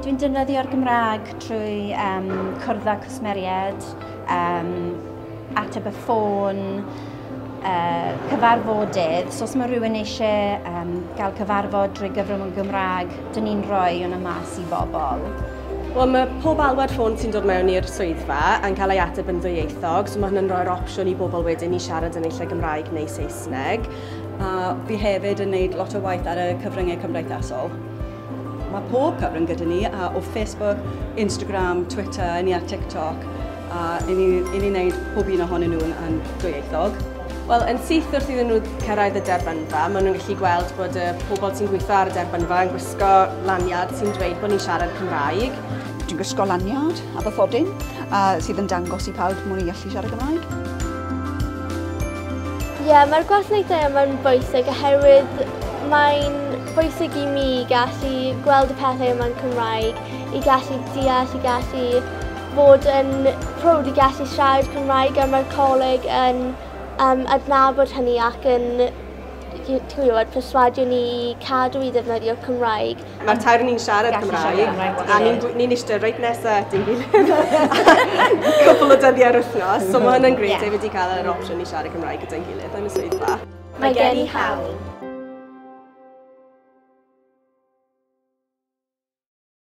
Dwi'n defnyddio'r Gymraeg trwy um, cwrdd â cwsmeriaid, um, ateb y ffôn, uh, cyfarfodydd. So os mae rhywun eisiau um, gael cyfarfod drwy gyfrwng y Gymraeg, dyn ni'n rhoi hwnna mas i bobl. Wel, mae pob alwad ffôn sy'n dod mewn i'r swyddfa yn cael ei ateb yn ddwyieithog, so mae hynny'n rhoi'r opsiwn i bobl wedyn i siarad yn eich lle Gymraeg neu Saesneg. A fi hefyd yn neud lot o waith ar y cyfryngau cymdeithasol. Mae pob cyfrwng gyda ni, a o Facebook, Instagram, Twitter, ni ar TikTok, a i ni, i ni wneud pob un ohonyn nhw'n yn dwyieithog. Wel, yn syth wrth iddyn nhw cyrraedd y derbynfa, maen nhw'n gallu gweld bod y pobl sy'n gweithio ar y derbynfa yn gwisgo lanyard sy'n dweud bod ni'n siarad Cymraeg. Dwi'n gwisgo lanyard a bathodyn a sydd yn dangos i pawb mod i'n gallu siarad Cymraeg. Ie, mae'r gwasanaethau yma'n bwysig oherwydd mae'n bwysig i mi gallu gweld y pethau yma'n Cymraeg, i gallu deall, i gallu bod yn prowd i gallu siarad Cymraeg a mae'r coleg yn um, adnabod hynny ac yn ti'n gwybod, perswadio ni i cadw i ddefnyddio Cymraeg. Mae'r tair ni'n siarad Cymraeg a ni'n ni eistedd reit nesaf at ein gilydd cwbl o dyddiau ar wythnos. So mae hwnna'n gret, yeah. wedi cael yr opsiwn i siarad Cymraeg gyda'n gilydd yn y swyddfa. Mae gen i hawl.